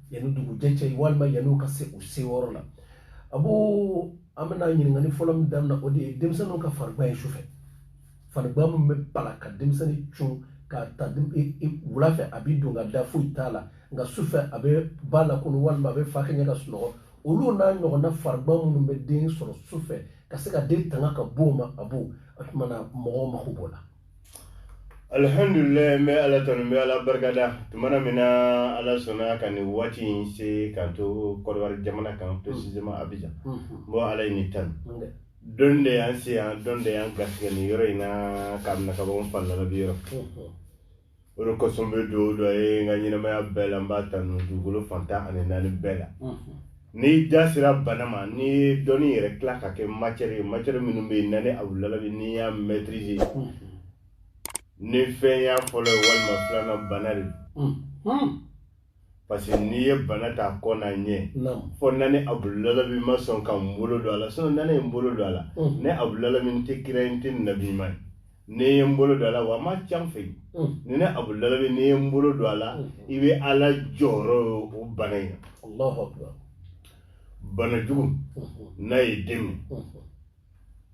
yanni dugujɛ cɛ walima yanni u ka se u se yɔrɔ la a b'o an bɛna ɲininkali fɔlɔ min daminɛ o de ye denmisɛnninw ka farigan ye sufɛ farigan min bɛ bala ka denmisɛnnin cun k'a ta wula fɛ a bɛ don ka da foyi t'a la nka sufɛ a bɛ ba lakunu walima a bɛ fa kɛɲɛ ka sunɔgɔ olu n'a ɲɔgɔnna farigan minnu bɛ den sɔrɔ su fɛ ka se ka den tanga ka b'o ma a b'o o tumana mɔgɔw mako b'o la alhamdulilayi n bɛ ala tanu n bɛ ala barikada tumana min na ala sɔnna ka nin waati in se k'an to kɔdiwari jamana kan précisément mm. abijan mm. n bɔ ala ye nin tanu don de y'an se yan don de y'an garisigɛ nin yɔrɔ in na k'a minɛ ka bɔ n fa lalabi yɔrɔ mm. o de kosɔn n bɛ dugawu don a ye n ka ɲɛnamaya bɛɛ la n b'a tanu dugukolo fan tan ani naani bɛɛ la n'i da sera bana ma n'i ye dɔnni yɛrɛ tila ka kɛ matière ye matière minnu bɛ yen nani abudulalabi n'i y'a maîtriser ni fɛn y'a fɔlɔ ye walima filanan bana de don parce que n'i ye bana ta kɔ n'a ɲɛ fɔ nani abudulalabi ma sɔn ka n bolo don a la sinon nani ye n bolo don a la mm. ne abudulalabi n tɛ kira ye n tɛ nabi ma ye ne ye n bolo don a la wa a ma ca n fɛ yen mm. ni ne abudulalabi n'i ye n bolo don a la mm. i bɛ ala jɔyɔrɔ ye o bana in na bana jugu mm-hmm. n'a ye den minɛ mm-hmm.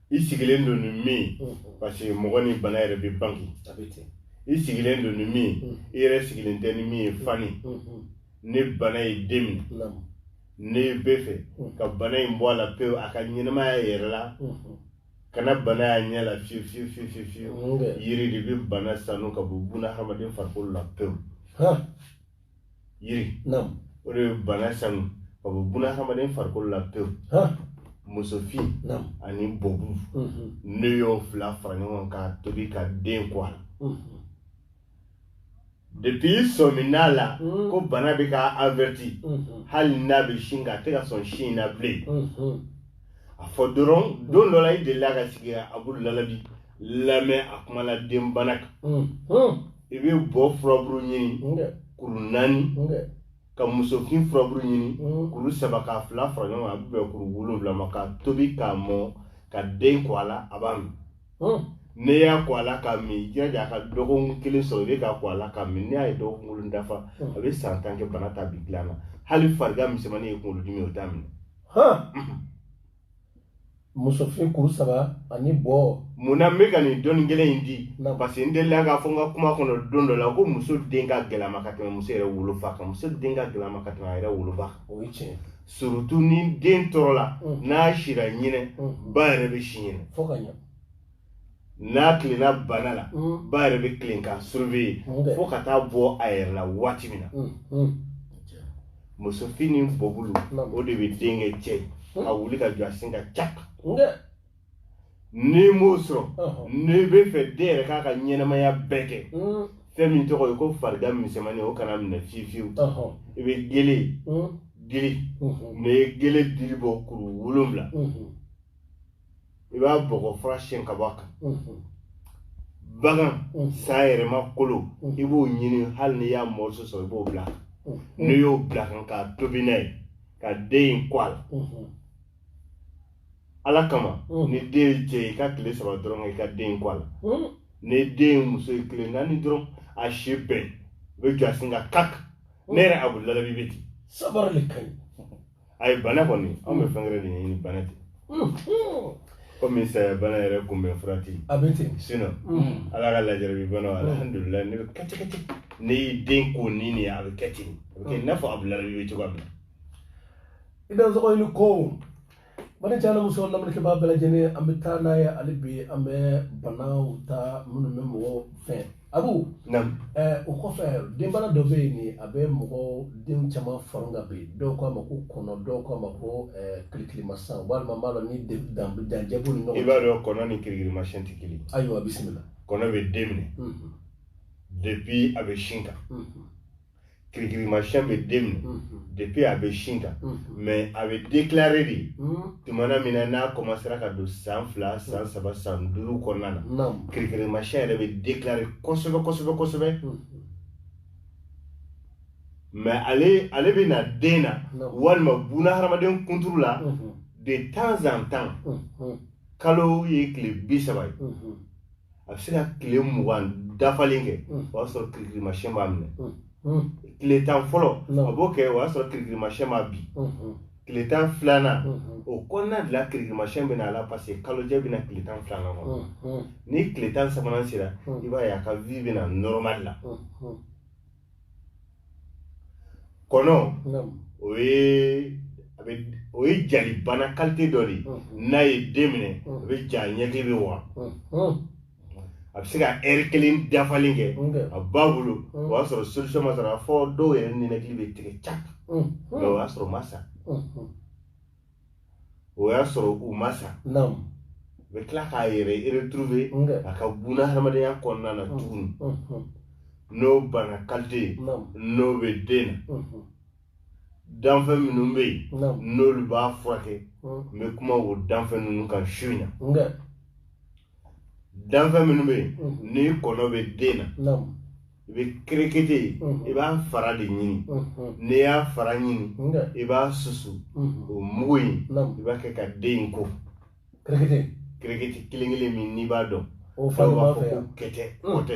i sigilen don ni min parce que mɔgɔ ni bana yɛrɛ bɛ bange i sigilen don ni min i yɛrɛ sigilen tɛ ni min ye fani ni bana ye den minɛ ne bɛ fɛ ka bana in bɔ a la pewu a ka ɲɛnamaya yɛrɛ la kana bana y'a ɲɛ la fiyewu fiyewu fiyewu fiyewu yiri de bɛ bana sanu ka bɔ buna hadamaden farikolo la pewu yiri o de bɛ bana sanu ka bɔ buna hadamaden farikolo la pewu musofin ani bɔbu mm-hmm. ne y'o fila fara ɲɔgɔn kan k'a tobi ka den ko a la mm-hmm. depuis sɔmin'a la mm-hmm. ko bana bɛ ka averti hali n'a bɛ sin kan a tɛ ka sɔn sin na bilen a fɔ dɔrɔn don dɔ la i delila ka sigi abudulalabi lamɛn a kuma la den bana kan hmm, hmm. i bɛ bɔ furaburu ɲini kuru naani ka musofin furaburu ɲini hmm. kuru saba k'a fila fara ɲɔgɔn kan a bɛ bɛn kuru wolonwula ma ka tobi k'a mɔ ka den ko a la a b'a min n'i y'a ko a la k'a min i jilaja a ka dɔgɔkun kelen sɔrɔ i bɛ k'a ko a la k'a min n'i y'a ye dɔgɔkun kelen dafa a bɛ san tan kɛ bana t'a bin dilan na hali farigan misɛnmanin ye kunkolodimi o t'a minɛ musofin kuru saba ani bɔ mun na n bɛ ka nin dɔnni gɛlɛn in di Na. parce que n delila k'a fɔ n ka kuma kɔnɔ don dɔ la ko muso den ka gɛlɛma ka tɛmɛ muso yɛrɛ wolofa kan muso den ka gɛlɛma ka tɛmɛ a yɛrɛ wolofa kan o ye tiɲɛ surtout ni den tɔɔrɔla Mm. n'a sira ɲinɛ Mm. ba yɛrɛ bɛ si ɲinɛ fo ka ɲɛ n'a tilenna bana la mm. ba yɛrɛ bɛ tilen k'a surveiller mm. fo ka taa bɔ a yɛrɛ la waati min na mm. musofin ni bɔbulu o de bɛ den kɛ cɛ ye a wuli ka jɔ a sen kan cak n'i m'o sɔrɔ uh-huh. n'i bɛ fɛ den yɛrɛ k'a ka ɲɛnamaya bɛɛ kɛ fɛn min tɔgɔ ye ko farigan misɛnmanin o kana minɛ fiyewu fiyewu uh-huh. i bɛ gele dili uh-huh. n'i ye gele dili bɔ kuru wolonwula i b'a bɔgɔ fura siyɛn ka bɔ a kan bagan sa yɛrɛma kolo i b'o ɲini hali n'i y'a morceau sɔrɔ i b'o bila n'i y'o bila kan k'a tobi n'a ye ka den in ko a la ala kama ni den ye cɛ i ka tile saba dɔrɔn i ka den ko a la ni den ye muso ye tile naani dɔrɔn a si bɛɛ a bɛ jɔ a sen kan kak ne yɛrɛ Abudulayi bɛ ten sabari de ka ɲi ayi bana kɔni anw bɛ fɛn wɛrɛ de ɲini bana tɛ komi saya bana yɛrɛ kunbɛn fura tɛ yen a bɛ ten sinon ala ka lajarabi bana alihamudulila ne bɛ kɛ ten kɛ ten n'i y'i den ko ni nin ye a bɛ kɛ ten a bɛ kɛ i n'a fɔ Abudulayi bɛ cogoya min na i bɛ sɔgɔ ni ko bana caman muso lamɛnnikɛbaa bɛɛ lajɛlen an bɛ taa n'a ye hali bi an bɛ banaw ta minnu bɛ mɔgɔw fɛn Abu o kɔfɛ denbana dɔ bɛ yen nin a bɛ mɔgɔ den caman fara ka bin dɔw k'a ma ko kɔnɔ dɔw k'a ma ko kirikirimasiyɛn walima b'a dɔn ni danjɛbo ni ɲɔgɔn i b'a dɔn kɔnɔ ni kirikirimasiyɛn tɛ kelen ayiwa a bisimila kɔnɔ bɛ den minɛ depuis a bɛ sin kan kirikirimasiyɛn bɛ den minɛ mhm. depuis a bɛ sin kan mhm. mais a bɛ déclarer de mhm. tumana min na n'a commencera ka don san fila san saba san duuru kɔnɔna na kirikirimasiyɛn yɛrɛ bɛ déclarer kosɛbɛ kosɛbɛ kosɛbɛ mais ale ale bɛ na den na walima buna hadamaden kunturu la de temps en temps kalo ye tile bi saba ye a bɛ se ka tile mugan dafalen kɛ o y'a sɔrɔ kirikirimasiyɛn m'a minɛ tile tan fɔlɔ a b'o kɛ o y'a sɔrɔ kirikirimasiyɛn m'a bin tile tan filanan o kɔnɔna de la kirikirimasiyɛn bɛ na a la parce que kalojɛ bɛ na tile tan filanan kɔnɔ ni tile tan sabanan sera i b'a ye a ka vie bɛ na normal la kɔnɔ o ye a bɛ o ye jalibana qualité dɔ de ye n'a ye den minɛ a bɛ ja ɲɛkili bɛ waa a bɛ se ka heure kelen dafalen kɛ a ba bolo o y'a sɔrɔ solution ma sɔrɔ a fo dɔw yɛrɛ ninakili bɛ tigɛ cak mais o y'a sɔrɔ u ma sa o y'a sɔrɔ u ma sa naamu u bɛ tila k'a yɛrɛ retrouver a ka buna hadamadenya kɔnɔna na tuguni n'o bana kalite ye n'o bɛ den na danfɛn minnu bɛ yen n'olu b'a furakɛ n bɛ kuma o danfɛn ninnu kan su in na danfɛn minnu bɛ yen ni kɔnɔ bɛ den na i bɛ kerekete ye i b'a fara de ɲini n'i y'a fara ɲini i b'a susu o mugu in i b'a kɛ ka den in ko kerekete kerekete kelen kelen min n'i b'a dɔn dɔw b'a fɔ ko kɛtɛ kɔtɛ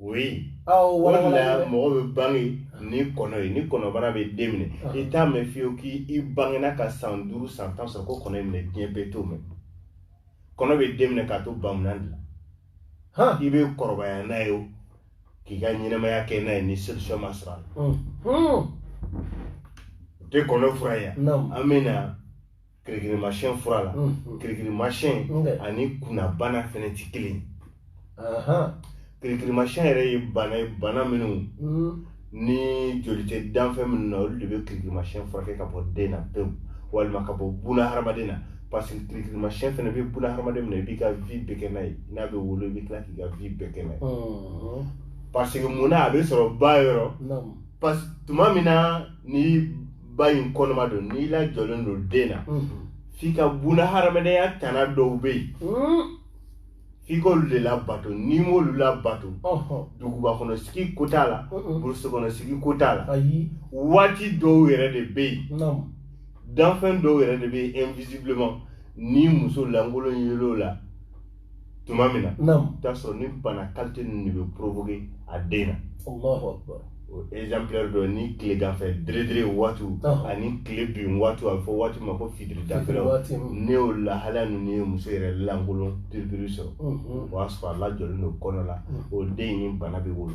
o ye o de la mɔgɔ bɛ bange ni kɔnɔ ye ni kɔnɔbana bɛ den minɛ i t'a mɛn fiyewu k'i bangena ka san duuru san tan sɔrɔ ko kɔnɔ y'i minɛ diɲɛ bɛɛ t'o mɛn kɔnɔ bɛ den minɛ k'a to bamunan de la i bɛ kɔrɔbaya n'a ye o k'i ka ɲɛnamaya kɛ n'a ye ni solution ma sɔrɔ a la o tɛ kɔnɔ fura ye an bɛ na kirikirimasiyɛn fura la kirikirimasiyɛn ani kunnabana fɛnɛ tɛ kelen kirikirimasiyɛn yɛrɛ ye bana ye bana minnu ni joli tɛ danfɛn minnu na olu de bɛ kirikirimasiyɛn furakɛ ka bɔ den na pewu walima ka bɔ buna hadamaden na parce que kirikirimasiyɛn fɛnɛ bɛ buna hadamaden minɛ i b'i ka vie bɛɛ kɛ n'a ye n'a bɛ wolo i bɛ tila k'i ka vie bɛɛ kɛ n'a ye parce que mun na a bɛ sɔrɔ ba yɔrɔ parce que tuma min na ni ba in kɔnɔma don n'i lajɔlen don den na f'i ka buna hadamadenya tana dɔw bɛ yen f'i k'olu de labato n'i m'olu labato duguba kɔnɔ sigi ko t'a la burusi kɔnɔ sigi ko t'a la waati dɔw yɛrɛ de bɛ yen danfɛn dɔw yɛrɛ de bɛ yen invisiblement ni muso lankolon yel'o la tuma min na i t'a sɔrɔ ni bana kalite ninnu de bɛ provoquer a den na o exemplaire dɔ ni tileganfɛ deredere waatiw ani tile bin waatiw a bɛ fɔ waati ma ko fitiri dafɛlaw ni o lahalaya ninnu ye muso yɛrɛ lankolon piripiri sɔrɔ o y'a sɔrɔ a lajɔlen don kɔnɔ la o den in ni bana bɛ wolo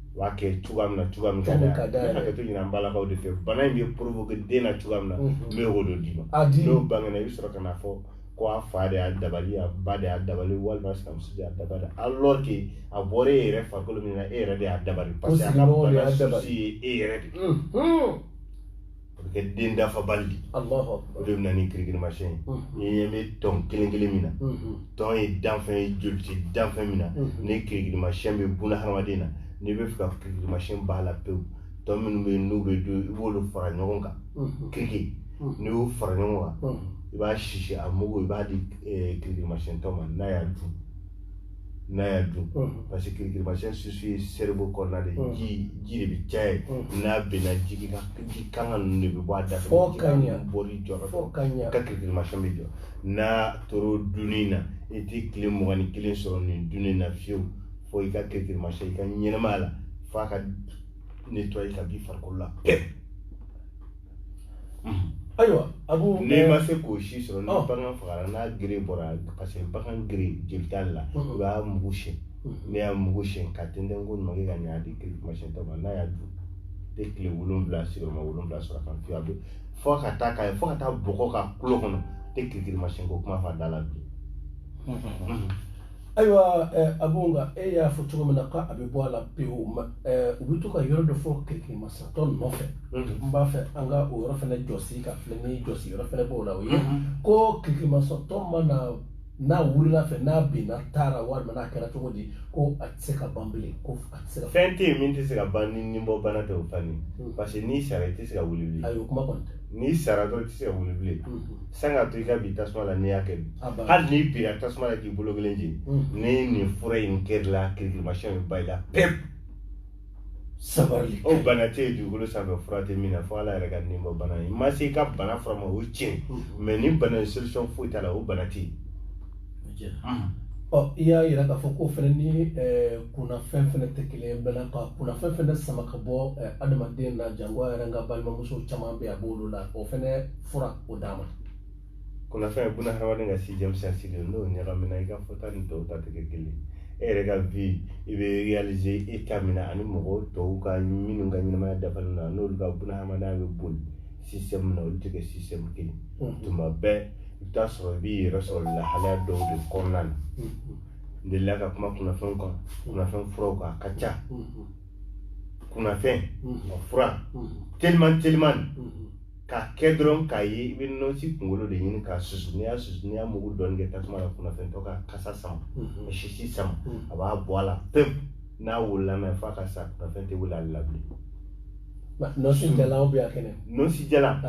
u b'a kɛ cogoya min na cogoya min ka d'a ye ka d'a ye. N bɛ hakɛto ɲini an balakaw de fɛ bana in bɛ provoquer den na cogoya min na Mhm. n bɛ o de d'i ma A di. n'o bangena i bɛ sɔrɔ ka na fɔ ko a fa de y'a dabali a ba de y'a dabali walima a sinamuso de y'a dabali alors que a bɔra e yɛrɛ farikolo min na e yɛrɛ de y'a dabali parce que a ka sigiɲɔgɔnw de y'a bana dabali. souci ye e yɛrɛ de ye. Mhm. o bɛ kɛ den dafabali de Alahu akibaru. o de bɛ na ni kirikirimasiyɛn ye Mhm. n'i ɲɛ bɛ tɔn kelen kelen min na Mhm. tɔn ye danfɛn ye joli tɛ danfɛn min na Mhm. ni kirikirimasiyɛn bɛ buna hadamaden na n'i bɛ fɛ ka kirikirimasiyɛn b'a la pewu tɔn minnu bɛ yen n'u bɛ dun i b'olu fara ɲɔgɔn kan Mhm. kiriki Mhm. n'i y'u fara ɲɔgɔn kan Mhm. i b'a sisi a mugu i b'a di eh, kirikirimasiyɛntɔ ma n'a y'a dun n'a y'a dun parce que kirikirimasiyɛn susu ye cerveau kɔnɔna de ji ji de bɛ caya yen n'a binna jigi ka ji kanga ninnu de bɛ bɔ a da fɛ fo ka ɲɛ bɔli jɔra fɔ ka ɲɛ ka kirikirimasiyɛn bɛ jɔ n'a tor'o dunni na i tɛ tile mugan ni kelen sɔrɔ nin dunni na fiyewu fo i ka kirikirimasiyɛn i ka ɲɛnamaya la f'a ka nettoyer ka b'i farikolo la pewu ayiwa abu n'i ma se k'o si sɔrɔ ni bagan fagara n'a gere bɔra parce que bagan gere jeli t'ale la i b'a mugu siyɛn n'i y'a mugu siyɛn k'a tɛntɛn koɲuman kɛ ka ɲɛ a di kirikirimasiyɛntɔ ma n'a y'a dun tɛ tile wolonwula sigiyɔrɔma wolonwula sɔrɔ a kan fiyewu a bɛ fo ka taa k'a ye fo ka taa bɔgɔ k'a kulo kɔnɔ tɛ kirikirimasiyɛnko kuma fɔ a da la bilen ayiwa eh, abu nka e y'a fɔ cogo min na k'a bɛ bɔ a la pewu ma eh, u bɛ to ka yɔrɔ dɔ fɔ kirikimasatɔ nɔfɛ mhm. n b'a fɛ an ka o yɔrɔ fana jɔsi ka filɛ ni jɔsi yɔrɔ fana b'o la o ye mhm. ko kirikimasatɔ mana n'a wulila fɛ n'a binna ta ra walima n'a kɛra cogo di ko a tɛ se ka ban bilen ko a tɛ se ka fɛn tɛ yen min tɛ se ka ban ni nibɔbana tɛ o fani hmm. parce que n'i sara i tɛ se ka wuli bilen ayi o kuma kɔni tɛ n'i sara dɔrɔn i tɛ se ka wuli bilen san ka to i ka bi tasuma la n'i y'a kɛ hali n'i bira tasuma la k'i bolo kelen jeni ni nin fura in kɛr'i la kirikirimasiyɛn bɛ ban i la pewu sabali o bana tɛ yen dugukolo sanfɛ fura tɛ min na fo ala yɛrɛ ka nibɔbana i ma se i ka bana fura ma o tiɲɛ mais ni bana in solution foyi t'a la o bana tɛ yen ɔ i y'a yira k'a fɔ ko fɛnɛ ni kunnafɛn fɛnɛ tɛ kelen ye bɛnna ka kunnafɛn fɛnɛ sama ka bɔ adamaden na jango a yɛrɛ n ka balimamuso caman bɛ a b'olu la o fɛnɛ fura o d'an ma kunnafɛn ye bunahadamaden ka sixième sens de n'o ɲagamina i ka fɔta ni tɔw ta tɛ kɛ kelen ye e yɛrɛ ka vie i bɛ réaliser état min na ani mɔgɔw tɔw ka minnu ka ɲɛnamaya dafalen na n'olu ka bunahadamadenya bɛ boli système min na olu tɛ kɛ système kelen ye tuma bɛɛ i bɛ taa sɔrɔ i b'i yɛrɛ sɔrɔ lahalaya dɔw de kɔnɔna na n delila ka kuma kunnafɛnw kan kunnafɛn furaw kan a ka ca kunnafɛn a fura teliman teliman k'a kɛ dɔrɔn k'a ye i bɛ nɔnsi kunkolo de ɲini k'a susu n'i y'a susu n'i y'a mugu dɔɔni kɛ tasuma la kunnafɛntɔ k'a kasa sama k'a sisi sama a b'a bɔ a la pewu n'a wolola mɛ f'a ka sa kunnafɛn tɛ wuli ale la bilen nɔnsi jalan bɛ yan kɛnɛ nɔnsi jalan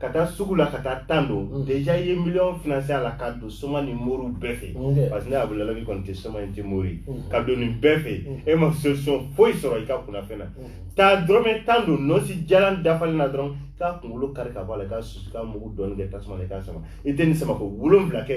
ka taa sugu la ka taa tan don mm. déjà i ye miliyɔn financer a la ka don soma ni moriw bɛɛ fɛ mm. parce que ne abudulayi kɔni tɛ soma n tɛ mori mm. ka don nin bɛɛ fɛ e ma solution foyi sɔrɔ i ka kunnafɛn na taa dɔrɔmɛ tan don nɔnsi jalan dafalen na dɔrɔn k'a kunkolo kari ka bɔ a la k'a susu k'a mugu dɔɔni kɛ tasuma la i k'a sama i tɛ nin samako wolonwula kɛ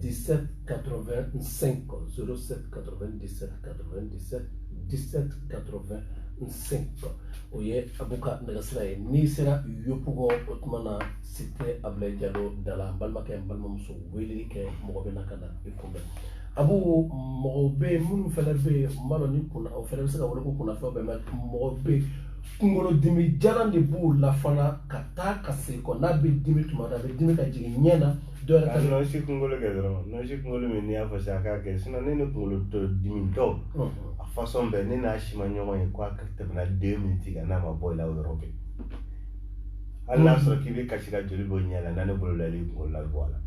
17 85 07 97 97 17 85 o ye abu ka nɛgɛsira ye n'i sera yopugɔn o tuma na site abulayi jalo da la balimakɛ balimamuso weleli kɛ mɔgɔ bɛ na ka na i kunbɛn abu mɔgɔw bɛ yen minnu fana bɛ yen n b'a dɔn ni kunna o fana bɛ se ka wele ko kunnafɛnw bɛɛ mɛ mɔgɔw bɛ yen kunkolodimi jalan de b'u la fana ka taa ka segin kɔ n'a bɛ dimi tuma dɔ a bɛ dimi ka jigin ɲɛ na dɔ yɛrɛ ta bɛ- nɔnsi kunkolo kɛ dɔrɔn nɔnsi kunkolo min n'i y'a fɔ sisan a k'a kɛ sinon ne ni kunkolo tɔ dimi tɔw Ɔhɔn. a façon bɛɛ ne n'a si ma ɲɔgɔn ye ko a ka tɛmɛna deux minutes kan n'a ma bɔ i la o yɔrɔ bɛɛ hali n'a sɔrɔ k'i bɛ kasi ka joli bɔ i ɲɛ la n'a ne bolo la i b'i kunkolo labɔ a la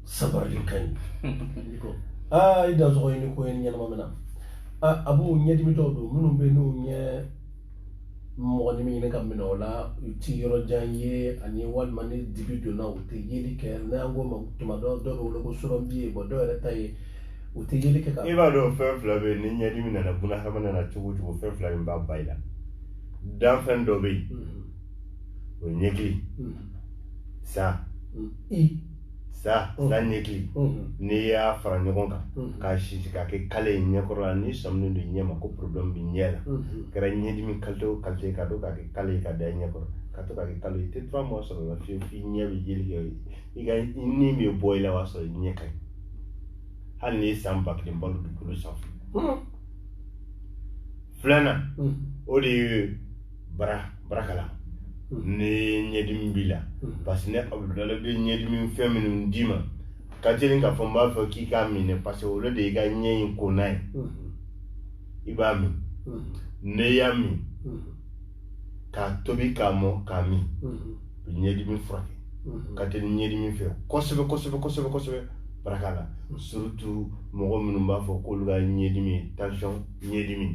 sabarali ka ɲi I ko. aa i dansɔgɔ ye ni ko ye ni ɲɛnama min na a abu ɲɛdimi dɔw don minnu bɛ yen n'u ɲɛ mɔgɔnin min ɲini ka minɛ o la u ti yɔrɔ jan ye ani walima ni dibi donna u tɛ yeli kɛ n'an k'o ma tuma dɔ dɔw bɛ wele ko surɔfiyen bɔn dɔw yɛrɛ ta ye u tɛ yeli kɛ ka i b'a dɔn fɛn fila bɛ yen ni ɲɛdimi nana buna hadamaden na cogo o cogo fɛn fila min b'a bɔ i la danfɛn dɔ bɛ yen o ye ɲɛkili sa sa sa ɲɛkili n'i y'a fara ɲɔgɔn kan k'a sisi k'a kɛ kale ye ɲɛkɔrɔ la n'i sɔminen don ɲɛ ma ko problème b'i ɲɛ la kɛra ɲɛdimi qualité o qualité ka to k'a kɛ kale ye ka da i ɲɛ kɔrɔ ka to k'a kɛ kale ye i tɛ trois mois sɔrɔ o la fiyewu f'i ɲɛ bɛ yeli kɛ i ka ni bɛ bɔ i la o y'a sɔrɔ i ɲɛ ka ɲi hali n'i ye san ba kelen balo dugukolo sanfɛ filanan o de ye bara barakala hmm. ni ɲɛdimi b'i la hmm. parce que ne abudulayi bɛ ɲɛdimi fɛn minnu d'i ma ka teli k'a fɔ n b'a fɔ k'i k'a minɛ parce que olu de y'i ka ɲɛ in ko n'a ye hmm. i b'a min n'i y'a min k'a tobi k'a mɔ k'a min bi ɲɛdimi furakɛ ka teli ɲɛdimi fɛ kosɛbɛ kosɛbɛ kosɛbɛ kosɛbɛ barakala surtout mɔgɔ minnu b'a fɔ k'olu ka ɲɛdimi tansiyɔn ɲɛdimi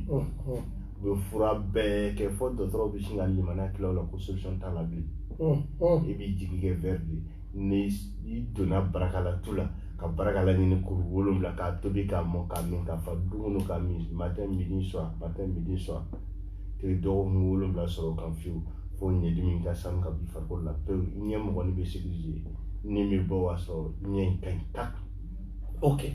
u bɛ fura bɛɛ kɛ fo dɔgɔtɔrɔw bɛ sin ka limaniya tila o la ko solution t'a la bilen i b'i jigi kɛ verre de ye ni i donna barakala tu la ka barakala ɲini kuru wolonwula k'a tobi k'a mɔ k'a min k'a fa dumuni k'a min matin midi soir matin midi soir i tɛ dɔgɔkun wolonwula sɔrɔ o kan fiyewu fo ɲɛdimi ka sanu ka b'i farikolo la pewu ɲɛ mɔgɔnin bɛ sécuriser ni bɛ bɔ o y'a sɔrɔ ɲɛ in ka ɲi tak ok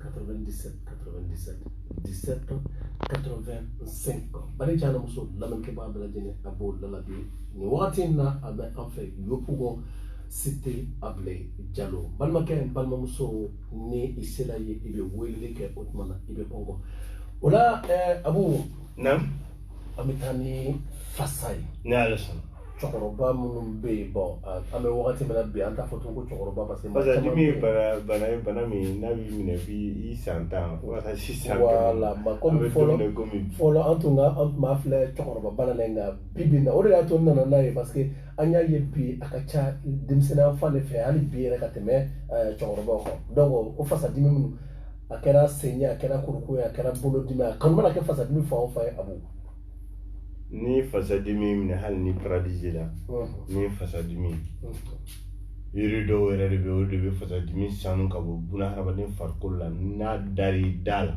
97 97 17 85 bari jana muso lamɛnkɛbaa bɛɛ lajɛlen a b'o lalabi nin wagati in na a bɛ an fɛ yopugɔn site abulayi jalo balimakɛ balimamuso ni i sela yen i bɛ weleli kɛ o tuma na i bɛ kɔngɔ o la abu naamu an bɛ taa ni fasa ye ne y'ale sɔrɔ cɛkɔrɔba minnu bɛ yen bɔn an bɛ wagati min na bi an t'a fɔ tun ko cɛkɔrɔba parce que fasadimi ye bana bana ye bana min n'a b'i minɛ bi i san tan fo ka taa se cent ans voilà mais komi fɔlɔ fɔlɔ an tun ka an tun b'a filɛ cɛkɔrɔba bana la nka bi bi in na o de y'a to n nana n'a ye parce que an y'a ye bi a ka ca denmisɛnninya fan de fɛ hali bi yɛrɛ ka tɛmɛ cɛkɔrɔbaw kan donc o fasadimi minnu a kɛra sen ye a kɛra kurukun ye a kɛra bolodimi a kan o mana kɛ fasadimi fan o fan ye a b'o ni fasadimi minɛ hali ni paralysie la ni fasadimi yiri dɔw yɛrɛ de bɛ olu de bɛ fasadimi sanu ka bɔ buna hadamaden farikolo la n'a dar'i da la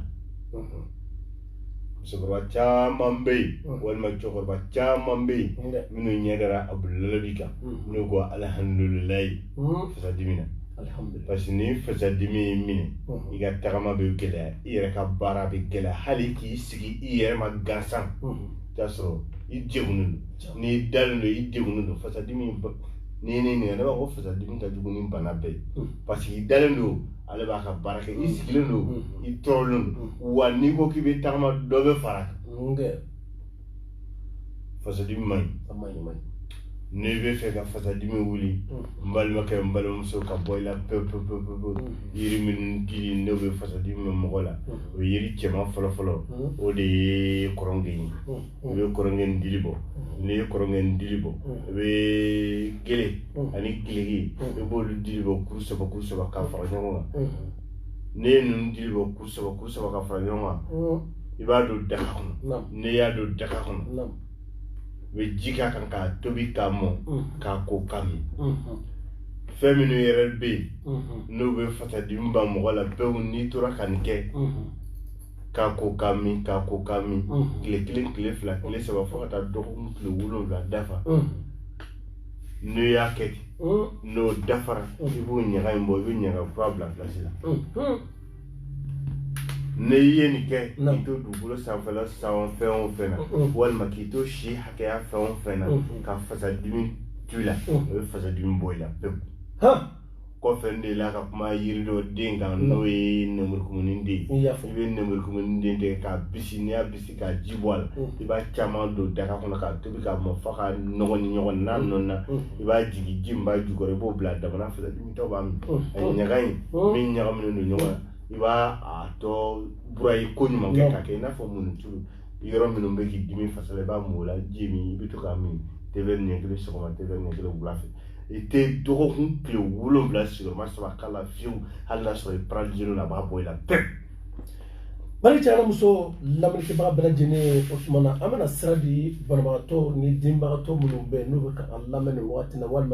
musokɔrɔba caman bɛ yen walima cɛkɔrɔba caman bɛ yen minnu ɲɛ dara abudulayi kan n'u ko alihamudulilayi fasadimi na parce que ni fasadimi y'i minɛ i ka tagama bɛ gɛlɛya i yɛrɛ ka baara bɛ gɛlɛya hali k'i sigi i yɛrɛ ma gansan t'a sɔrɔ i degunnen don n'i dalen don i degunnen don fasadimi n'i ye ne ɲininka ne b'a fɔ fasadimi ka jugu ni bana bɛɛ ye paseke i dalen don ale b'a ka baara kɛ i sigilen don i tɔɔrɔlen don wa n'i ko k'i bɛ tagama dɔ bɛ fara kan fasadimi man ɲi n'i b'a fɛ ka fasadimi wuli n balimakɛ n balimamuso ka bɔ i la pewu pewu pewu pewu yiri minnu dili n'o bɛ fasadimi ban mɔgɔ la o yiri cɛman fɔlɔ fɔlɔ o de ye kɔrɔnge ye i bɛ kɔrɔnge ni dili bɔ n'i ye kɔrɔnge ni dili bɔ i bɛ gele ani giliki i b'olu dili bɔ kuru saba kuru saba ka fara ɲɔgɔn kan n'i ye ninnu dili bɔ kuru saba kuru saba ka fara ɲɔgɔn kan mm. i b'a don daga kɔnɔ n'i y'a don daga kɔnɔ i bɛ ji k'a kan k'a tobi k'a mɔ mm. k'a ko k'a min mm-hmm. fɛn minnu yɛrɛ bɛ yen mm-hmm. n'u bɛ fasadimi ban mɔgɔ la pewu n'i tora ka nin kɛ mm-hmm. k'a ko k'a min k'a ko k'a min tile kelen tile fila tile saba fo ka taa dɔgɔkun tile wolonwula dafa n'o y'a kɛ ten hmm. n'o dafara hmm. i b'o ɲaga in bɔ i bɛ ɲaga kura bila pilasi la hmm. n'i ye nin kɛ k'i to dugukolo sanfɛla san fɛn o fɛn na walima k'i to si hakɛya fɛn o fɛn na ka fasadimi to i la o bɛ fasadimi bɔ i la pewu kɔfɛ n delila ka kuma yiri dɔ den kan mm. n'o ye nɛmurukumuni den i bɛ nɛmurukumuni den tigɛ k'a bisi n'i y'a bisi k'a ji bɔ a la mm. i b'a caman don daga kɔnɔ k'a tobi k'a mɔ fo ka nɔɔni ɲɔgɔn na mm. n'a nɔɔnina i b'a jigin ji min b'a jukɔrɔ i b'o bila damana fasadimitɔ b'a min ɲaga in min ɲagaminen don ɲɔgɔn na i b'a a tɔ burayi koɲuman kɛ k'a kɛ i n'a fɔ munni tulu yɔrɔ minnu bɛ k'i dimi fasa la i b'a mun o la ji min i bɛ to k'a min te wɛri ɲɛ kelen sɔgɔma te wɛri ɲɛ kelen wula fɛ i tɛ dɔgɔkun tile wolonwula sigiyɔrɔma saba k'a la fiyew hali n'a sɔrɔ i paralizelen don a b'a bɔ i la pewu bari cɛ fara muso lamɛnnikɛbaga bɛɛ lajɛlen ye o tuma na an bɛna sira di banabagatɔ ni degunbagatɔ minnu bɛ yen n'u bɛ ka an lamɛn nin wagati la walima